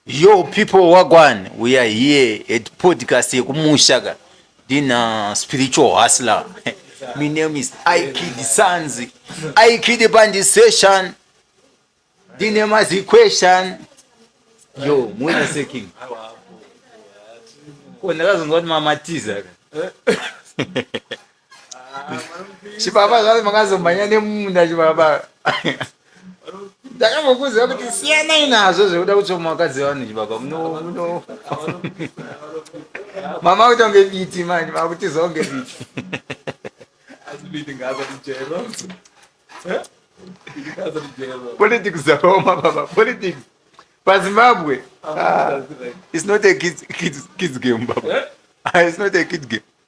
Yo people wagwan we are here at podcast yekumusha ka ndina spiritual hustler my name is Ikid Sanzi Ikid Bandi session ndine mazi question yo muwena seking ko ndakazonzwa kuti mamatiza ka chibaba zvave makazomhanya nemunda chibaba ndakambokuziva kuti siyanai nazvo zvekuda kutsoma vakadzi vanhu chibaba muno muno mama kuita kunge biti manje makutizawo kunge biti politics dzakaoma baba politics pazimbabwe ah, it's not a kids, kids, kids game baba eh? ah, it's not a kid game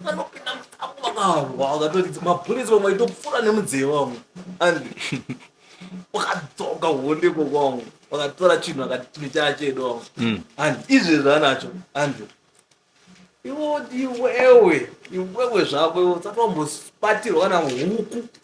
vanopinda mutambo vakahwa vakatoridza mabhurisi vamwe vaitopfura nemudzee vamwe and wakadzoka honde kokwavo vakatora chinhu akati chinhu chaa chedu vamwe Mm. and izvezvi anacho and iwo iwewe iwewe zvako iwe usati wambobatirwa kana huku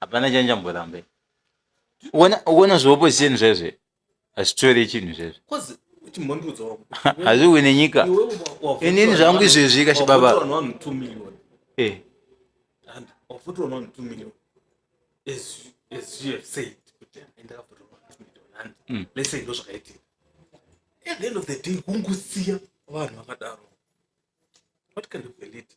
hapana chanjamboramba uona zveopposition zvezve hazvitori chinhu zvezve hazviwi nenyika inini zvangu izvezvi kachibaba eh. hmm. lese ndo zvakaitika at the end of the day kungusiya vanhu vakadaro what kind of elite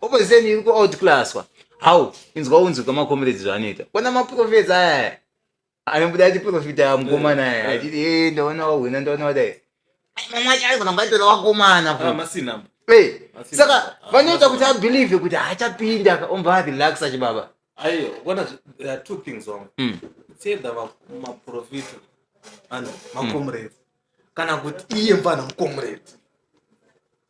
opposition iri kuoutclasswa how inzwa unzwi kwamakomiredzi zvaanoita kwana maprofesa aya anobuda achiprofita mukomana aya achiti e ndaona wahwina ndaona wadai mamwe acho aigona kungatora wakomana Ah, masinamba Eh, Asi- saka ah, vanoita ah, kuti abhilivhe kuti haachapinda ka- omva arelaxa chibaba aiyo kwana there are two things wamwe Mm. it's either va- maprofita and makomiredzi kana kuti iye mfana mukomiredzi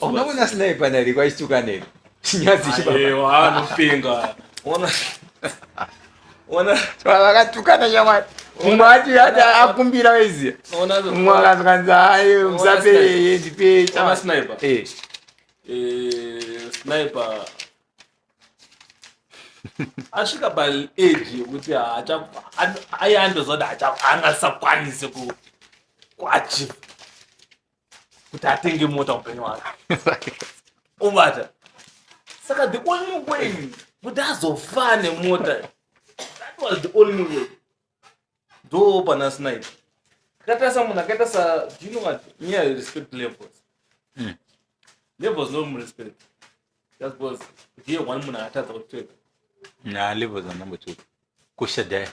unoona sniper nari kwaituka neri chinyadzi chibaaanopenga ona ona vakatukana nyamwari mumwe ati ati akumbira waiziya mumwe akazwanzi hayi musape yeye ndipei sniper eh. Eh, sniper asvika paage yekuti aiandozoda angasakwanise kuachiva kuti atenge mota upenyu wake ubata saka the only way kuti azofaa nemota that was the only way ndo pana snipe akaita samunhu akaita sa do you know what nyaya respect levels mm. levels no respect just because ndiye one munhu akatadza kutweka na levels anambotuka kushadhaya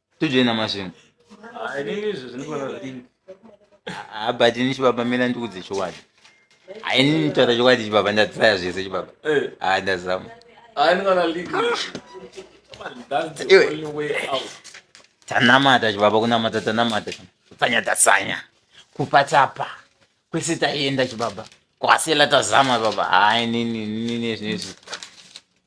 tojoina masvingo ah, but ini chibaba mira ndikudze chokwadi haini nditaura chokwadi chibaba ndadzaya zvese chibaba eh. ah, ndazama tanamata chibaba kunamata tanamata kutsanya tasanya kupa tapa kwese taienda chibaba kwasela tazama baba hayi nini nini zvinezvi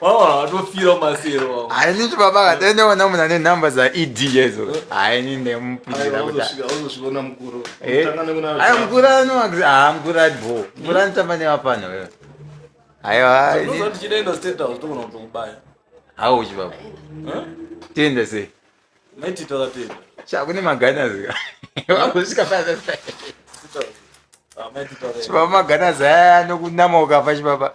vanofira masero hainiti baba kataendaona munhu ane nhamba dzaed yezo haini ndemupindira kutiaona mukuru aya mukuru anoaxi haa mukuru ari bho mukuru anotamba nevapano wewe aiwa hauchi baba tienda sei chakune maganazi vakusvika paa chibaba maganazi aya anokunama ukafa chibaba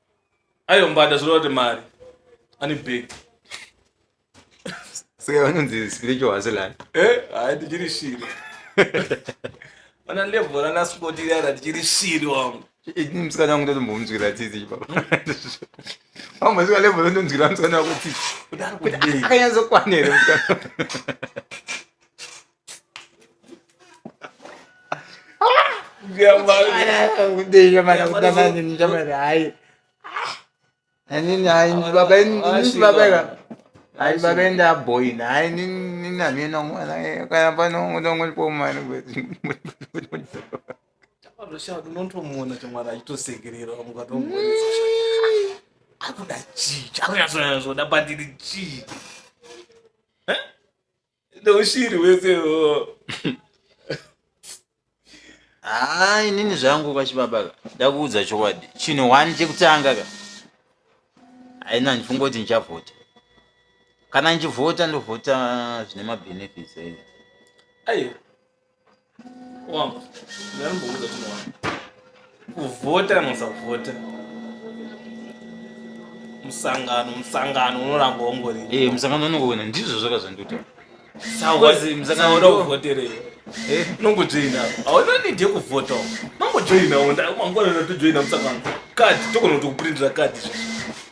Ayo mbada zvoreva kuti mari. Ani big. Saka vanonzi spiritual hustler. Eh, hayi ndichiri shiri. Ona level rana spoti rara ndichiri shiri wangu. Ini musikana wangu ndotombomuzwira tsitsi ipapa. Wangu mazvika level ndotonzwira musikana wako tsitsi. Kudaro Kuti kudei. akanyatso kwanere musikana. aibabenda boina hayi ninamyena mwana kana pano unongolipomani zvashati unotomuona chamwari achitosekerera akuda chii chakunyatsoda pandiri chii neushiri wese haa inini zvangu kachibaba ka ndakuudza chokwadi chinhu one chekutanga ka haina ndifunga kuti ndichavhota kana ndichivhota ndovhota zvine mabenefits aiwa Wamba, ndanomboudza kuti mwana. Kuvhota kana usavhota. Musangano, musangano unoramba ungori. Eh, musangano unongowina ndizvo zvakazondiita. Sawa, musangano unovhoterei? Eh, nongojoina. Hauna need yekuvhota. Nongojoina, mangwana unotojoina musangano. Kadi, togona kuti kuprintira kadi izvozvo.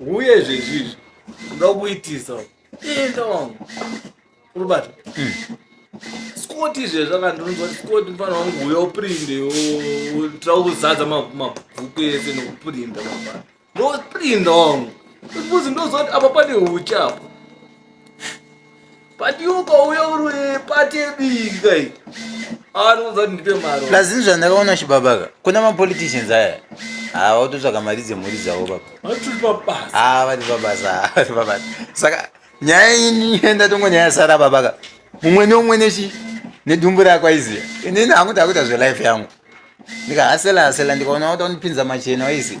uye zvezvizvi unoda kuitisa enda wangu uribata hmm. skoti izvezvi akandinonzwa skoti mfana wangu uya uprinde tira kuzadza mabhuku ese nokuprinda mafana noprinda wangu ekuzi ndozoti apa pane uchi apo Patioka uya uri patebiki kai. Anounza kuti ndipe mari. Plus ini zvandakaona chibaba ka. Kuna ma politicians aya. Ah, watotsvaka mari dzemhuri dzavo baba. Vatiri pabasa. Ah, vari pabasa. Vari pabasa. Saka nyaya ini enda tongo nyaya sara baba ka. Mumwe neumwe nechi nedumbu rako aiziya. Ini hangu takuita zve life yangu. Ndikahasela hasela ndikaona wata unipinza machena waisi.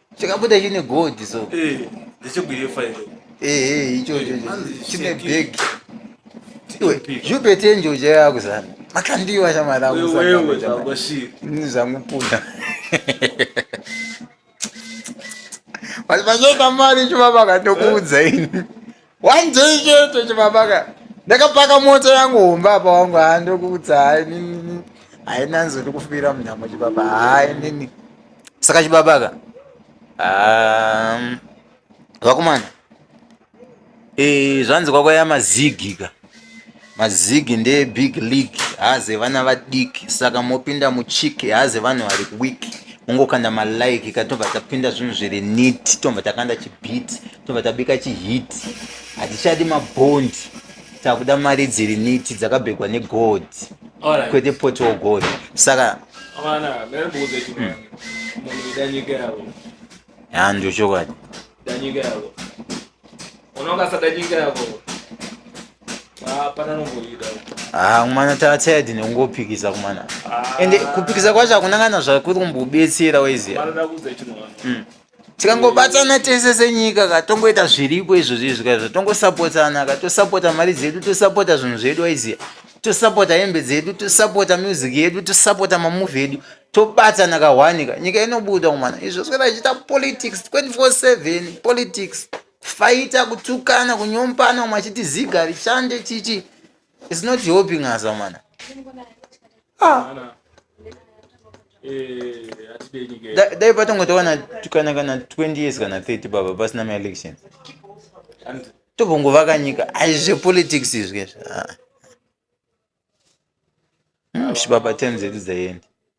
chakabuda chine gold so eh ndechekuyefa ere eh eh icho icho chine bag iwe jupe tenje ujaya kuzana makandiwa shamara kuzana wewe zvakoshira ni zvangu punda Mas mas eu tá marido, babacá, teu cu zen. one day chete chibabaka ndakapaka mota yangu hombe apa wangu haa ndokuudza hai nini haina nzo ndikufira munhamo chibaba hai nini saka chibabaka um, vakomana e, zvanzi kwakwaya mazigi ka mazigi ndeye big league haze vana vadiki saka mopinda muchiki haze vanhu vari wiki ungokanda malike ka tobva tapinda zvinhu zviri nit tobva takanda chibit tobva tabika chihit hatichadi mabond takuda mari dziri niti dzakabhegwa negold kwete potiwo gold saka ya ndio chokwadi ah, kumana tatayadi nekungopikisa kumana ah. ende kupikisa kwacho hakuna kana zvakuri kumbobetsera waiziva tikangobatsana tese senyika ka tongoita zviripo izvozvo izvi kaizvo tongosapotsana ka tosapota mari dzedu tosapota zvinhu zvedu aiziva tosapota hembe dzedu tosapota music yedu tosapota mamuvi edu tobatsana kahwani ka nyika inobuda kumana izvo zvoita ichiita politics 24/7 politics faita kutukana kunyompana umwe achiti ziga rishande chichi It's not helping us amana. Ah. Eh, dai patongotowana kana kana 20 years kana 30 baba pasina maelection tobongovaka nyika ai zvepolitics izvi ah. hmm, baba time dzedu dzaendi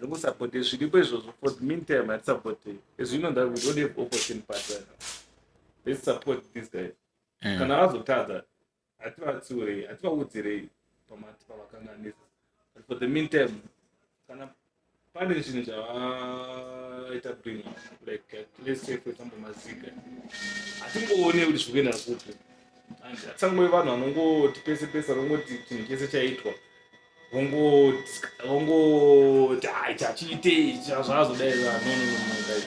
Rikusapotei zviripo izvozvo for the meantime hatisapotei. Izvi ino that we don't have opposition party right now. Let's support these guys. Mm. Kana vazotadza hativatsiurei hativaudzirei pamati pavakanganisa. But for the meantime kana pane zvinhu zvavaita bring like let's say for example mazika hatingoone kuti zviri kuenda kupi and hatisangove vanhu vanongoti pese pese vanongoti chinhu chese chaitwa ongoti hai chachiitei chazvazodai no no no guys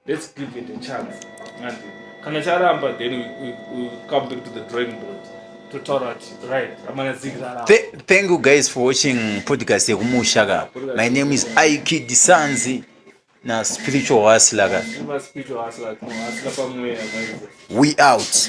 let's give it a chance and kana charamba then we, we, we come back to the drawing board thank you guys for watching podcast yekumusha ka my name is ikid sanzi na spiritual hustler ka we out